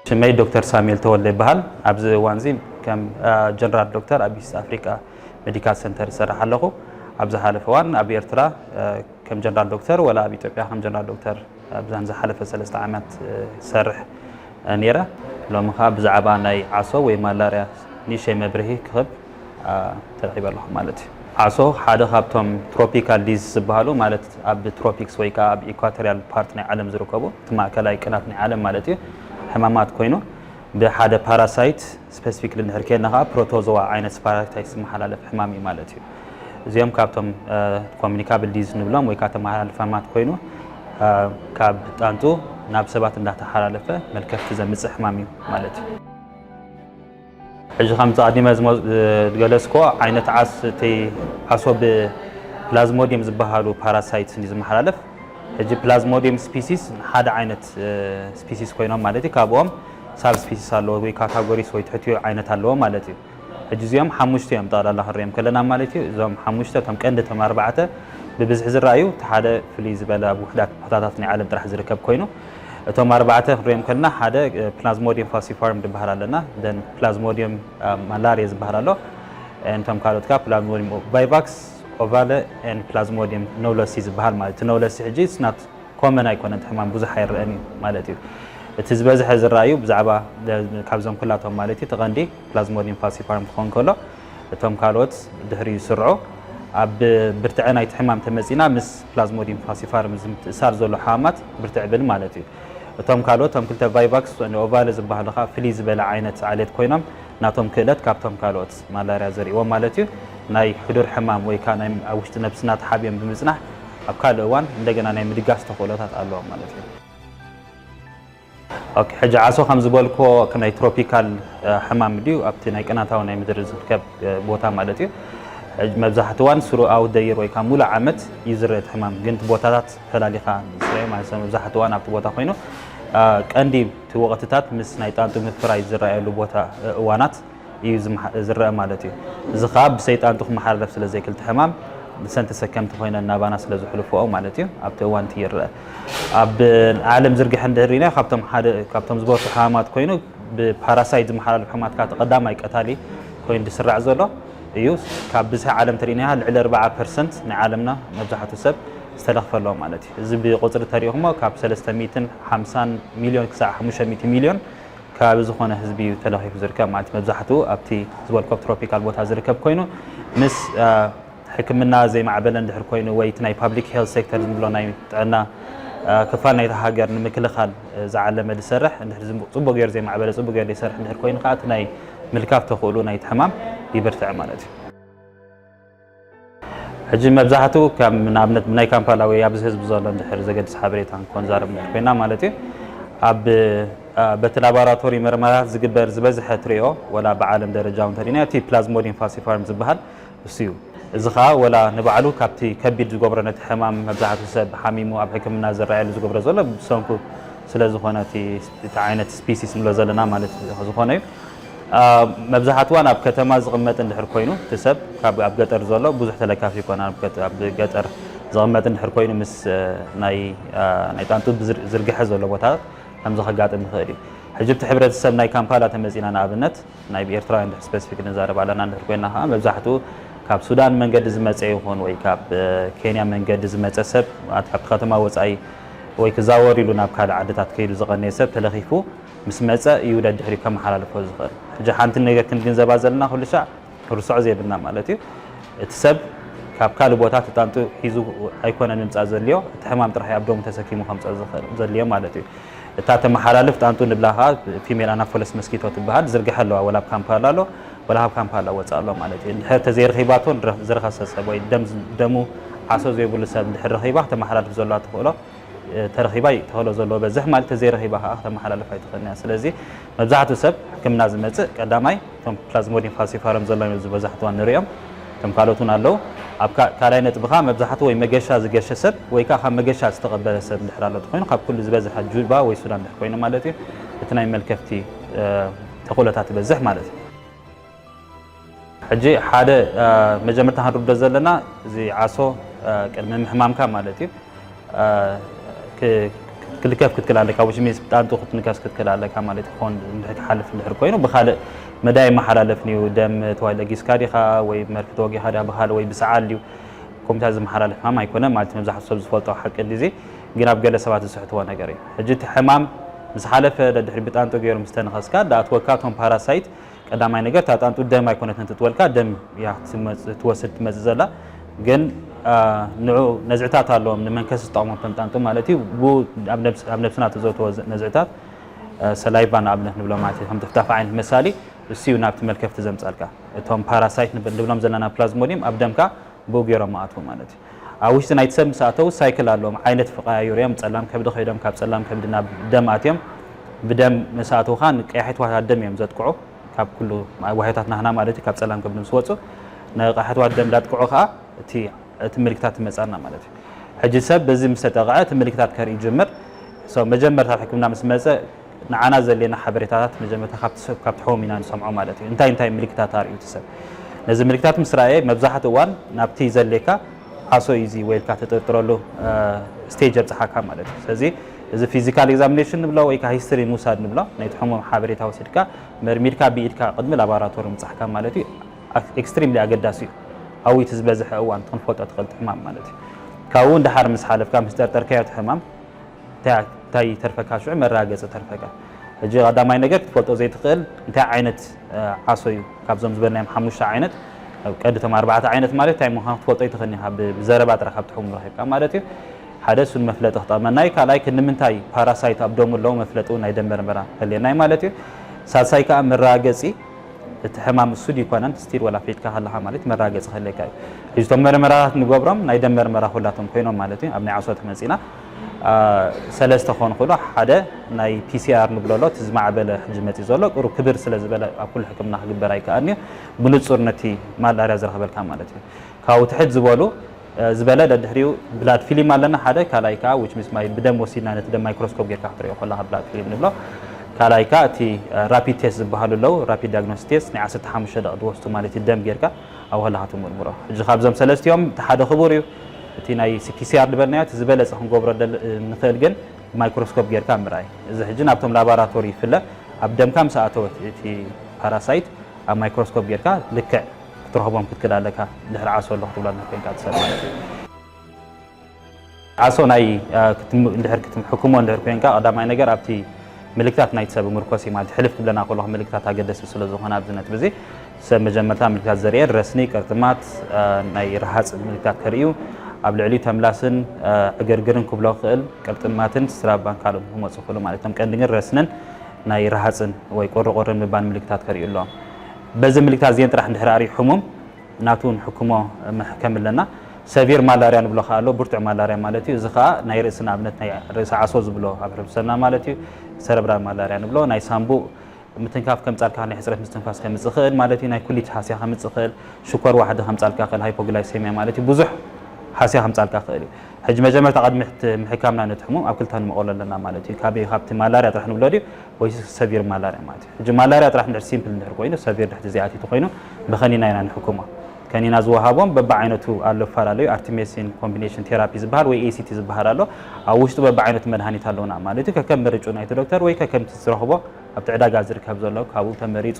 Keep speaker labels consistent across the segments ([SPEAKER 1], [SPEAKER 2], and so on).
[SPEAKER 1] ሽመይ ዶክተር ሳሙኤል ተወልደ ይበሃል ኣብዚ እዋን እዚ ከም ጀነራል ዶክተር ኣብ ኢስት ኣፍሪቃ ሜዲካል ሰንተር ይሰርሕ ኣለኹ ኣብ ዝሓለፈ እዋን ኣብ ኤርትራ ከም ጀነራል ዶክተር ወላ ኣብ ኢትዮጵያ ከም ጀነራል ዶክተር ኣብዛን ዝሓለፈ ሰለስተ ዓመት ይሰርሕ ነይረ ሎሚ ከዓ ብዛዕባ ናይ ዓሶ ወይ ማላርያ ንእሽተይ መብርሂ ክህብ ተረኺበ ኣለኹ ማለት እዩ። ዓሶ ሓደ ካብቶም ትሮፒካል ዲዝስ ዝበሃሉ ማለት ኣብ ትሮፒክስ ወይ ከዓ ኣብ ኢኳቶሪያል ፓርት ናይ ዓለም ዝርከቡ እቲ ማእከላይ ቅናት ናይ ዓለም ማለት እዩ ሕማማት ኮይኑ ብሓደ ፓራሳይት ስፐሲፊክ ልንሕር ከየልና ከዓ ፕሮቶዞዋ ዓይነት ስፓራታይት ዝመሓላለፍ ሕማም እዩ ማለት እዩ። እዚኦም ካብቶም ኮሚኒካብል ዲዝስ ንብሎም ወይ ከዓ ተመሓላልፍ ሕማማት ኮይኑ ካብ ጣንጡ ናብ ሰባት እንዳተሓላለፈ መልከፍቲ ዘምፅእ ሕማም እዩ ማለት እዩ። ሕጂ ከምቲ ኣቐዲመ ዝገለጽክዎ ዓይነት ዓስ እቲ ዓሶ ብፕላዝሞዲየም ዝበሃሉ ፓራሳይትስ እዩ ዝመሓላለፍ። ሕጂ ፕላዝሞዲየም ስፒሲስ ሓደ ዓይነት ስፒሲስ ኮይኖም ማለት እዩ ካብኦም ሳብ ስፒሲስ ኣለዎ ወይ ካታጎሪስ ወይ ትሕቲኡ ዓይነት ኣለዎ ማለት እዩ። ሕጂ እዚኦም ሓሙሽተ እዮም ጠቕላላ ክንሪኦም ከለና ማለት እዩ። እዞም ሓሙሽተ እቶም ቀንዲ እቶም ኣርባዕተ ብብዝሒ ዝረኣዩ እቲ ሓደ ፍልይ ዝበለ ኣብ ውሑዳት ቦታታት ናይ ዓለም ጥራሕ ዝርከብ ኮይኑ እቶም ኣርባዕተ ክንሪኦም ከለና ሓደ ፕላዝሞዲየም ፋሲፋርም ዝበሃል ኣለና ደን ፕላዝሞዲየም ማላርየ ዝበሃል ኣሎ እንቶም ካልኦት ከዓ ፕላዝሞዲየም ቫይቫክስ ኦቫለ ን ፕላዝሞዲየም ነውለሲ ዝበሃል ማለት እቲ ነውለሲ ሕጂ ስናት ኮመን ኣይኮነን እቲ ሕማም ብዙሕ ኣይረአን እዩ ማለት እዩ እቲ ዝበዝሐ ዝረኣዩ ብዛዕባ ካብዞም ኩላቶም ማለት እዩ ተቐንዲ ፕላዝሞዲየም ፋሲፋርም ክኸውን ከሎ እቶም ካልኦት ድሕሪ ይስርዑ ኣብ ብርትዐ ናይቲ ሕማም ተመፂና ምስ ፕላዝሞዲየም ፋሲፋርም ዝምትእሳር ዘሎ ሕማማት ብርትዕ ብል ማለት እዩ። እቶም ካልኦት እቶም ክልተ ቫይቫክስ ንኦቫለ ዝበሃሉ ከኣ ፍልይ ዝበለ ዓይነት ዓሌት ኮይኖም ናቶም ክእለት ካብቶም ካልኦት ማላርያ ዘርእዎም ማለት እዩ ናይ ሕዱር ሕማም ወይ ከኣ ናይ ኣብ ውሽጢ ነብስና ተሓቢኦም ብምጽናሕ ኣብ ካልእ እዋን እንደገና ናይ ምድጋፍ ተኽእሎታት ኣለዎም ማለት እዩ። ኦኬ ሕጂ ዓሶ ከም ዝበልክዎ ናይ ትሮፒካል ሕማም ድዩ ኣብቲ ናይ ቅናታዊ ናይ ምድሪ ዝርከብ ቦታ ማለት እዩ መብዛሕቲ እዋን ስሩኣዊ ደይር ወይ ከዓ ሙሉእ ዓመት ይዝረ እቲ ሕማም ግን እቲ ቦታታት ፈላሊኻ ዝስረየ ማለት ሰብ መብዛሕቲ እዋን ኣብቲ ቦታ ኮይኑ ቀንዲ እቲ ወቕትታት ምስ ናይ ጣንጡ ምፍራይ ዝረኣየሉ ቦታ እዋናት እዩ ዝረኣ ማለት እዩ። እዚ ከኣ ብሰይጣን ቱኽሚ ሓርደፍ ስለ ዘይክልቲ ሕማም ንሰን ተሰከምቲ ኮይነን ናባና ስለ ዝሕልፍኦ ማለት እዩ ኣብቲ እዋን እቲ ይረኣ። ኣብ ዓለም ዝርግሐ እንድህር ሪኢናዮ ካብቶም ሓደ ካብቶም ዝበርሑ ሕማማት ኮይኑ ብፓራሳይት ዝመሓላለፍ ሕማት ከኣ ቀዳማይ ቀታሊ ኮይኑ ዝስራዕ ዘሎ እዩ። ካብ ብዝሒ ዓለም ተሪኢናያ ልዕሊ 40 ፐርሰንት ናይ ዓለምና መብዛሕቱ ሰብ ዝተለኽፈ ኣሎ ማለት እዩ። እዚ ብቁፅሪ ተሪኢኹሞ ካብ ሰለስተ ሚእትን ሓምሳን ሚልዮን ክሳዕ ሓሙሽተ ሚእቲ ሚልዮን ከባቢ ዝኾነ ህዝቢ እዩ ተለኺፉ ዝርከብ ማለት መብዛሕትኡ ኣብቲ ዝበልኮ ትሮፒካል ቦታ ዝርከብ ኮይኑ ምስ ሕክምና ዘይማዕበለ እንድሕር ኮይኑ ወይ እቲ ናይ ፓብሊክ ሄልት ሴክተር ዝብሎ ናይ ጥዕና ክፋል ናይታ ሃገር ንምክልኻል ዝዓለመ ዝሰርሕ እንድሕር ፅቡቅ ገይሩ ዘይማዕበለ ፅቡቅ ገይሩ ዘይሰርሕ እንድሕር ኮይኑ ከዓ እቲ ናይ ምልካፍ ተኽእሉ ናይቲ ሕማም ይብርትዕ ማለት እዩ። ሕጂ መብዛሕትኡ ከም ንኣብነት ናይ ካምፓላ ወይ ኣብዚ ህዝቢ ዘሎ እንድሕር ዘገድስ ሓበሬታ ንኮንዛርብ እንድሕር ኮይና ማለት እዩ ኣብ በቲ ላቦራቶሪ መርመራታት ዝግበር ዝበዝሐ ትሪኦ ወላ ብዓለም ደረጃ እውን ተሪእናዮ እቲ ፕላዝሞዲን ፋሲፋርም ዝበሃል እሱ እዩ እዚ ከዓ ወላ ንባዕሉ ካብቲ ከቢድ ዝገብሮ ነቲ ሕማም መብዛሕትኡ ሰብ ሓሚሙ ኣብ ሕክምና ዝረኣየሉ ዝገብሮ ዘሎ ብሰንኩ ስለ ዝኾነ እቲ ዓይነት ስፒሲስ ንብሎ ዘለና ማለት ዝኾነ እዩ መብዛሓትዋን ኣብ ከተማ ዝቕመጥ እንድሕር ኮይኑ እቲ ሰብ ካብ ኣብ ገጠር ዘሎ ብዙሕ ተለካፊ ይኮን ኣብ ገጠር ዝቕመጥ እንድሕር ኮይኑ ምስ ናይ ናይ ጣንጡ ዝርግሐ ዘሎ ቦታታት ከምዚ ከጋጥም ይኽእል እዩ ሕጂ እቲ ሕብረተሰብ ናይ ካምፓላ ተመጺና ንኣብነት ናይ ኤርትራውያን ድሕር ስፔሲፊክ ንዛረብ ኣለና እንድሕር ኮይና ከዓ መብዛሕትኡ ካብ ሱዳን መንገዲ ዝመፀ ይኹን ወይ ካብ ኬንያ መንገዲ ዝመፀ ሰብ ካብቲ ከተማ ወፃኢ ወይ ክዛወር ኢሉ ናብ ካልእ ዓድታት ከይዱ ዝቐነየ ሰብ ተለኺፉ ምስ መጸ እዩ ደድሕሪኡ ከመሓላልፎ ዝኽእል። ሕጂ ሓንቲ ነገር ክንግንዘባ ዘለና ኩሉ ሻዕ ክንርስዖ ዘይብልና ማለት እዩ እቲ ሰብ ካብ ካልእ ቦታ ተጣንጡ ሒዙ ኣይኮነን ምምጻእ ዘድልዮ እቲ ሕማም ጥራሕ እዩ ኣብ ደሙ ተሰኪሙ ከምጽኦ ዝኽእል ዘድልዮ ማለት እዩ። እታ ተመሓላልፍ ጣንጡ ንብላ ከኣ ፊሜል ኣናፎለስ መስኪቶ ትበሃል ዝርግሐ ኣለዋ ወላ ኣብ ካምፓላ ኣሎ ወላ ካብ ካምፓላ ወጻኢ ኣሎ ማለት እዩ። እንድሕር ተዘይረኺባቶ ዝረኸሰ ሰብ ወይ ደም ደሙ ዓሶ ዘይብሉ ሰብ እንድሕር ረኺባ ክተመሓላልፍ ዘለዋ ተኽእሎ ተረኺባ እዩ ተኸእሎ ዘለዎ በዝሕ ማለት ተዘይረኺባ ከዓ ክተመሓላልፍ ኣይትኽእልን እያ ስለዚ መብዛሕትኡ ሰብ ሕክምና ዝመፅእ ቀዳማይ እቶም ፕላዝሞዲን ፋልሲፋረም ዘሎዮም ዝበዛሕትዋ ንሪኦም እቶም ካልኦት እውን ኣለዉ ኣብ ካልኣይ ነጥቢ ከዓ መብዛሕትኡ ወይ መገሻ ዝገሸ ሰብ ወይ ከዓ ካብ መገሻ ዝተቐበለ ሰብ እንድሕር ኣሎ እንተኮይኑ ካብ ኩሉ ዝበዝሐ ጁባ ወይ ሱዳን እንድሕር ኮይኑ ማለት እዩ እቲ ናይ መልከፍቲ ተኽእሎታት ይበዝሕ ማለት እዩ ሕጂ ሓደ መጀመርታ ክንርዶ ዘለና እዚ ዓሶ ቅድሚ ምሕማምካ ማለት እዩ ክልከፍ ክትክል ኣለካ which means ጣንጡ ክትንከስ ክትክል ኣለካ ማለት ክኾን እንድሕር ክሓልፍ እንድሕር ኮይኑ ብካልእ መዳይ ይመሓላለፍን እዩ ደም ተዋይ ለጊስካ ዲኻ ወይ መርፊ ተወጊኻ ዲኻ ብካልእ ወይ ብሰዓል እዩ ኮምፒታ ዝመሓላለፍ ሕማም ኣይኮነን ማለት መብዛሕቱ ሰብ ዝፈልጦ ሓቂ እንዲዚ ግን ኣብ ገለ ሰባት ዝስሕትዎ ነገር እዩ ሕጂ እቲ ሕማም ምስ ሓለፈ ደድሕሪ ብጣንጡ ገይሮም ዝተንኸስካ ዳኣትወካ እቶም ፓራሳይት ቀዳማይ ነገር እታ ጣንጡ ደም ኣይኮነትን ትጥወልካ ደም እያ ትመጽ- ትወስድ ትመጽእ ዘላ ግን አ፣ ንዑ ነዝዕታት ኣለዎም ንመንከስ ዝጠቕሞም እቶም ጣንጡ ማለት እዩ ብኡ ኣብ ነብስ- ኣብ ነብስና ተዘውተወ ዘ- ነዝዕታት አ፣ ሰላይቫ ንኣብነት ንብሎ ማለት እዩ ከም ጥፍጣፍ ዓይነት መሳሊ እሱ እዩ ናብቲ መልከፍቲ ዘምጻልካ እቶም ፓራሳይት ንብ- ንብሎም ዘለና ፕላዝሞዲየም ኣብ ደምካ ብኡ ገይሮም ኣትዉ ማለት እዩ። ኣብ ውሽጢ ናይቲ ሰብ ምስ ኣተዉ ሳይክል ኣለዎም፣ ዓይነት ክቐያይሩ እዮም፣ ጸላም ከብዲ ከይዶም ካብ ጸላም ከብዲ ናብ ደም ኣትዮም፣ ብደም ምስ ኣተዉ ከኣ ንቀያሕቲ ዋህዮታት ደም እዮም ዘጥቅዑ፣ ካብ ኩሉ ዋህዮታት ናህና ማለት እዩ፣ ካብ ጸላም ከብዲ ምስ ወጹ ንቀያሕትዋት ደም እንዳጥቅዑ ከኣ እቲ እቲ ምልክታት ይመጻና ማለት እዩ። ሕጂ ሰብ በዚ ምስ ተጠቕዐ እቲ ምልክታት ከርኢ ይጅምር። ሶ መጀመርታ ኣብ ሕክምና ምስ መጸ ንዓና ዘድልየና ሓበሬታታት መጀመርታ ካብቲ ሰብ ካብቲ ሖም ኢና ንሰምዖ ማለት እዩ እንታይ እንታይ ምልክታት ኣርእዩ እቲ ሰብ ነዚ ምልክታት ምስ ረኣየ መብዛሕትኡ እዋን ናብቲ ዘድልየካ ዓሶ እዩ እዚ ወይ ኢልካ ትጥርጥረሉ ስቴጅ የብጽሓካ ማለት እዩ ስለዚ እዚ ፊዚካል ኤግዛሚኔሽን ንብሎ ወይ ከዓ ሂስትሪ ምውሳድ ንብሎ ናይቲ ሕሙም ሓበሬታ ወሲድካ መርሚርካ ብኢድካ ቅድሚ ላቦራቶሪ ምብጻሕካ ማለት እዩ ኤክስትሪምሊ ኣገዳሲ እዩ ኣብኡ እቲ ዝበዝሐ እዋን እቲ ክንፈልጦ ትኽእል እቲ ሕማም ማለት እዩ ካብኡ እውን ደሓር ምስ ሓለፍካ ምስ ጠርጠርካዮ እቲ ሕማም እንታይ ይተርፈካ ሽዑ መራገጺ ተርፈካ ሕጂ ቀዳማይ ነገር ክትፈልጦ ዘይትኽእል እንታይ ዓይነት ዓሶ እዩ ካብዞም ዝበልናዮም ሓሙሽተ ዓይነት ቀዲ እቶም ኣርባዕተ ዓይነት ማለት እንታይ ምዃኑ ክትፈልጦ ኣይትኽእልኒ ኢኻ ብዘረባ ጥራሕ ካብ ትሕሙ ረኺብካ ማለት እዩ ሓደ እሱ ንመፍለጢ ክጠቕመና እዩ ካልኣይ ክንምንታይ ፓራሳይት ኣብ ደሙ ኣለዎ መፍለጢ እውን ናይ ደም መርመራ ከልየና እዩ ማለት እዩ ሳልሳይ ከዓ መራገፂ እቲ ሕማም እሱ ድዩ ኮነን ስቲል ወላ ፌትካ ከለካ ማለት መራገፂ ከልየካ እዩ ሕጂ እቶም መርመራታት ንገብሮም ናይ ደም መርመራ ኩላቶም ኮይኖም ማለት እዩ ኣብ ናይ ዓሶ ተመፂና ሰለስተ ክኾኑ ክእሉ ሓደ ናይ ፒሲኣር ንብሎ ኣሎ እቲ ዝማዕበለ ሕጂ መፂ ዘሎ ቅሩ ክብር ስለ ዝበለ ኣብ ኩሉ ሕክምና ክግበር ኣይከኣልን እዩ ብንፁር ነቲ ማላርያ ዝረኽበልካ ማለት እዩ ካብኡ ትሕት ዝበሉ ዝበለ ደድሕሪኡ ብላድ ፊልም ኣለና ሓደ ካልኣይ ከዓ ዊች ሚስ ማይ ብደም ወሲድና ነቲ ደም ማይክሮስኮፕ ጌርካ ክትሪኦ ከለካ ብላድ ፊልም ንብሎ ካልኣይ ከዓ እቲ ራፒድ ቴስት ዝበሃሉ ኣለዉ ራፒድ ዳያግኖስ ቴስት ናይ 15 ደቂ ትወስዱ ማለት እዩ ደም ጌርካ ኣብ ከለካ ትምርምሮ ሕጂ ካብዞም ሰለስቲኦም እቲ ሓደ ክቡር እዩ እቲ ናይ PCR ዝበልናዮ እቲ ዝበለጸ ክንገብሮ ንኽእል ግን ብማይክሮስኮፕ ጌርካ ምርኣይ እዚ ሕጂ ናብቶም ላባራቶሪ ይፍለ ኣብ ደምካ ምስ ኣተወት እቲ ፓራሳይት ኣብ ማይክሮስኮፕ ጌርካ ልክዕ ክትረኽቦም ክትክል ኣለካ ድሕሪ ዓሶ ኣሎ ክትብሎ እንድሕር ኮንካ እቲ ሰብ ማለት እዩ ዓሶ ናይ እንድሕር ክትሕክሞ እንድሕር ኮንካ ቀዳማይ ነገር ኣብቲ ምልክታት ናይቲ ሰብ ምርኮስ እዩ ማለት ሕልፍ ክብለና ከለኹ ምልክታት ኣገደስቲ ስለ ዝኾነ ኣብዚ ነጥቢ እዚ ሰብ መጀመርታ ምልክታት ዘርእየን ረስኒ፣ ቅርጥማት፣ ናይ ረሃፅ ምልክታት ከርእዩ፣ ኣብ ልዕሊኡ ተምላስን ዕግርግርን ክብሎ ክኽእል፣ ቅርጥማትን ስራባን ካልኦትን ክመፁ ይኽእሉ ማለት እቶም ቀንዲ ግን ረስንን ናይ ረሃፅን ወይ ቁሪቁርን ምባል ምልክታት ከርእዩ ኣለዎም። በዚ ምልክታት እዚኤን ጥራሕ እንድሕር ኣርእዩ ሕሙም ናቱ ንሕክሞ መሕከም ኣለና። ሰቪር ማላርያ ንብሎ ከኣ ኣሎ፣ ብርቱዕ ማላርያ ማለት እዩ። እዚ ከኣ ናይ ርእሲ ንኣብነት ናይ ርእሲ ዓሶ ዝብሎ ኣብ ሕብረተሰብና ማለት እዩ፣ ሰረብራል ማላርያ ንብሎ፣ ናይ ሳንቡእ ምትንካፍ ከምጻልካ ይኽእል፣ ናይ ሕጽረት ምስትንፋስ ከምጽእ ይኽእል ማለት እዩ፣ ናይ ኩሊት ሃስያ ከምጽእ ይኽእል፣ ሽኮር ዋሕዲ ከምጻልካ ይኽእል፣ ሃይፖግላይሰምያ ማለት እዩ፣ ብዙሕ ሃስያ ከምጻልካ ይኽእል እዩ። ሕጂ መጀመርታ ቅድሚ ምሕካምና ነቲ ሕሙም ኣብ ክልተ ንመቕሎ ኣለና ማለት እዩ፣ ካበይ ካብቲ ማላርያ ጥራሕ ንብሎ ድዩ ወይስ ሰቪር ማላርያ ማለት እዩ። ሕጂ ማላርያ ጥራሕ እንድሕር ሲምፕል እንድሕር ኮይኑ ሰቪር ድሕቲ ዘይኣቲቱ ኮይኑ ብኸኒና ኢና ንሕክሞ። ከኒና ዝወሃቦም በብዓይነቱ ኣሎ እፈላለዩ ኣርቲሜሲን ኮምቢኔሽን ቴራፒ ዝበሃል ወይ ኤሲቲ ዝበሃል ኣሎ ኣብ ውሽጡ በብዓይነቱ መድሃኒት ኣለዉና ማለት እዩ ከከም ምርጩ ናይቲ ዶክተር ወይ ከከምቲ ዝረኽቦ ኣብቲ ዕዳጋ ዝርከብ ዘሎ ካብኡ ተመሪፁ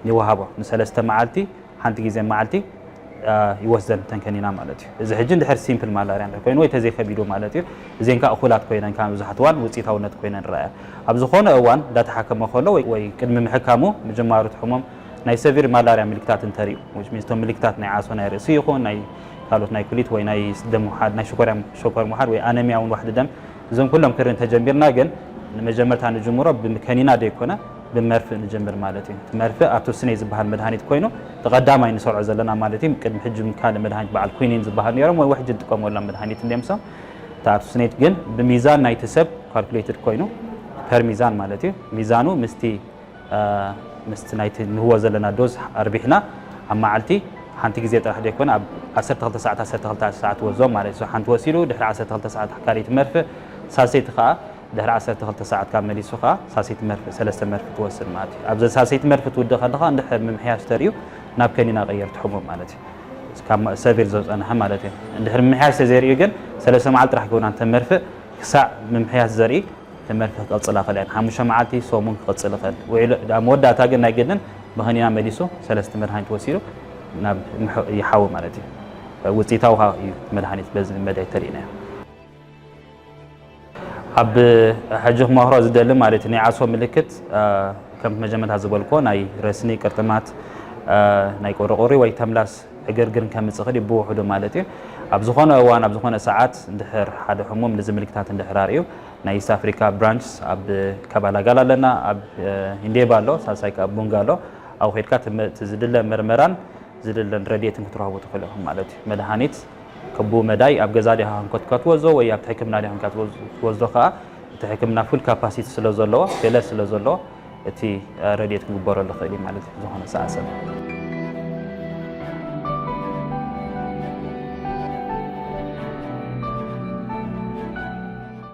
[SPEAKER 1] ይወሃቦ ንሰለስተ መዓልቲ ሓንቲ ግዜ መዓልቲ ይወስደን ተንከኒና ማለት እዩ እዚ ሕጂ እንድሕር ሲምፕል ማላርያ እንድሕር ኮይኑ ወይ ተዘይከቢዱ ማለት እዩ እዚን ከዓ እኹላት ኮይነን ከዓ መብዛሕትኡ እዋን ውፅኢታውነት ኮይነን ይረኣያ ኣብ ዝኾነ እዋን እንዳተሓከመ ከሎ ወይ ቅድሚ ምሕካሙ ምጅማሩ እቲ ሕሙም ናይ ሰቪር ማላርያ ምልክታት እንተሪኡ which means እቶም ምልክታት ናይ ዓሶ ናይ ርእሲ ይኹን ናይ ካልኦት ናይ ኩሊት ወይ ናይ ደም ምውሓድ ናይ ሽኮርያ ሸኮር ምውሓድ ወይ ኣነሚያ እውን ዋሕዲ ደም እዞም ኩሎም ክርኢ እንተጀሚርና ግን ንመጀመርታ ንጅምሮ ብከኒና ዘይኮነ ብመርፍእ ንጀምር ማለት እዩ እቲ መርፍእ ኣቶስኔ ዝበሃል መድሃኒት ኮይኑ እቲ ቀዳማይ ንሰርዖ ዘለና ማለት እዩ ቅድሚ ሕጂ ካልእ መድሃኒት በዓል ኩኒን ዝበሃል ነይሮም ወይ ውሕጂ ንጥቀመሎም መድሃኒት እንዲዮም ሶም እቲ ኣቶስኔት ግን ብሚዛን ናይቲ ሰብ ካልኩሌትድ ኮይኑ ፐር ሚዛን ማለት እዩ ሚዛኑ ምስቲ ምስቲ ናይቲ ንህቦ ዘለና ዶዝ ኣርቢሕና ኣብ መዓልቲ ሓንቲ ግዜ ጥራሕ ዘይኮነ ኣብ ዓሰርተ ክልተ ሰዓት ዓሰርተ ክልተ ሰዓት ወዞም ማለት እዩ ሓንቲ ወሲዱ ድሕሪ ዓሰርተ ክልተ ሰዓት ካልኢት መርፍእ ሳልሰይቲ ከዓ ድሕሪ ዓሰርተ ክልተ ሰዓት ካብ መሊሱ ከዓ ሳልሰይቲ መርፍእ ሰለስተ መርፍእ ትወስድ ማለት እዩ ኣብዘን ሳልሰይቲ መርፍእ ትውድእ ከለካ እንድሕር ምምሕያሽ ተርእዩ ናብ ከኒና ቀየርቲ ሕሙም ማለት እዩ ካብ ሰቪር ዘፀንሐ ማለት እዩ እንድሕር ምምሕያሽ ተዘይርእዩ ግን ሰለስተ መዓልቲ ጥራሕ ክብና እንተ መርፍእ ክሳዕ ምምሕያሽ ዘርኢ ትምህርቲ ክቅጽል ኣኸለ ን ሓሙሽተ መዓልቲ ሰሙን ክቅጽል ይኸል ውዒሉ ኣብ መወዳእታ ግን ናይ ግድን ብኸኒና መሊሱ ሰለስቲ መድሃኒት ወሲዱ ናብ ይሓዊ ማለት እዩ ውጽኢታዊ ከኣ እዩ መድሃኒት በዚ መዳይ ተሪእናዮ ኣብ ሕጂ ክመክሮ ዝደሊ ማለት እዩ ናይ ዓሶ ምልክት ከም መጀመርታ ዝበልኮ ናይ ረስኒ ቅርጥማት ናይ ቁርቁሪ ወይ ተምላስ ዕግርግርን ከምፅእ ክእል ብውሕዱ ማለት እዩ ኣብ ዝኾነ እዋን ኣብ ዝኾነ ሰዓት እንድሕር ሓደ ሕሙም ንዚ ምልክታት እንድሕር ኣርእዩ ናይ ኢስት ኣፍሪካ ብራንችስ ኣብ ከባላጋል ኣለና ኣብ ኢንዴባ ኣሎ ሳልሳይ ከ ኣብ ቡንጋ ኣሎ ኣብኡ ከድካ ዝድለ ምርመራን ዝድለን ረድኤትን ክትረኽቡ ትኽእሉ ኢኹም ማለት እዩ መድሃኒት ክቡ መዳይ ኣብ ገዛ ዲኻ ክንኮትካ ትወዞ ወይ ኣብቲ ሕክምና ዲኻ ክንካ ትወዞ ከዓ እቲ ሕክምና ፉል ካፓሲቲ ስለ ዘለዎ ገለ ስለ ዘለዎ እቲ ረድኤት ክግበረሉ ክእል እዩ ማለት እዩ ዝኾነ ሰዓ ሰብ